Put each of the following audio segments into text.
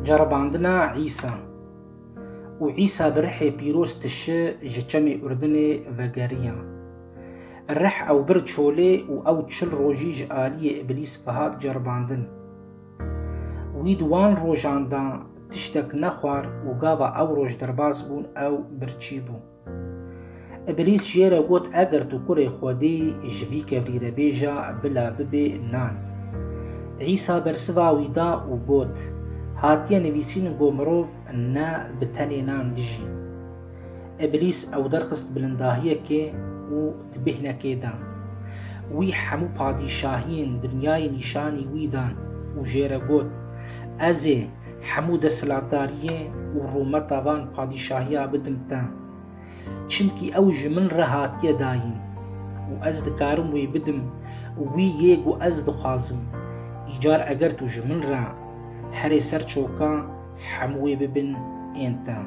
Ceribandina Îsa û Îsa bi rihê pîroz tişi ji çemê Urdinê vegeriya. Rih ew bir çolê û ew çil rojî ji aliyê îblîs bihat ceribandin. Wî di wan rojan de tiştek nexwar û gava ew roj derbas bûn ew birçî bû. Îblîs jê re got, Eger tu Kurê Xwedî î, ji vî kevrî re bêje, Bila bibe nan. Îsa bersiva wî da û got, Hatiye nivîsîn ku mirov ne bi tenê nan dijî. Îblîs ew derxist bilindahiyekê û di bêhnekê de wî hemû padîşahiyên dinyayê nîşanî wî dan û jê re got, Ez ê Hemû desthilatdariyê û rûmeta van padîşahiya bidim te. Çimkî ew ji min re hatiye dayîn û ez dikarim wî bidim û wî yê ku ez dixwazim. Îcar eger tu ji min re herê ser çoka hemû wê bibin ên te.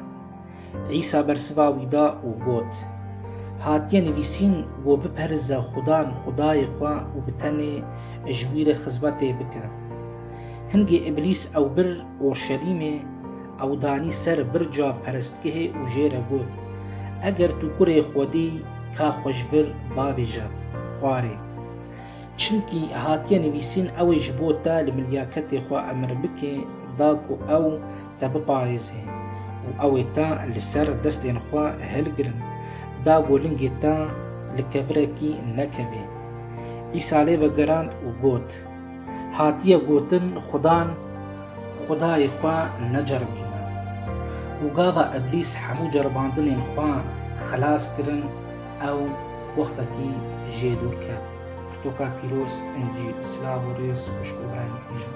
Îsa bersiva wî da û got, Hatiye nivîsîn, Wo biperze Xudan, Xudayê xwe û bi tenê ji wî re xizmetê bike. Hingê Îblîs ew bir Urşelîmê, ew danî ser birca perestgehê û jê re got, Eger tu Kurê Xwedî î, ka xwe ji vir bavêje, xwarê. Çimkî hatiye nivîsîn, Ew ê ji bo te li milyaketê xwe emir bike, da ku ew te biparêze û ew ê te li ser destên xwe hilgirin, da ku lingê te li kevirekî nekeve. Îsa lê vegerand û got, Hatiye gotin Xudan Xwedayê xwe neceribîne. Û gava Îblîs hemû ceribandinên xwe xilas kirin, ew wextekî jê dûr ket. Pirtoka Pîroz, Încîl. Silav û rêz xwişk û birayên îzin.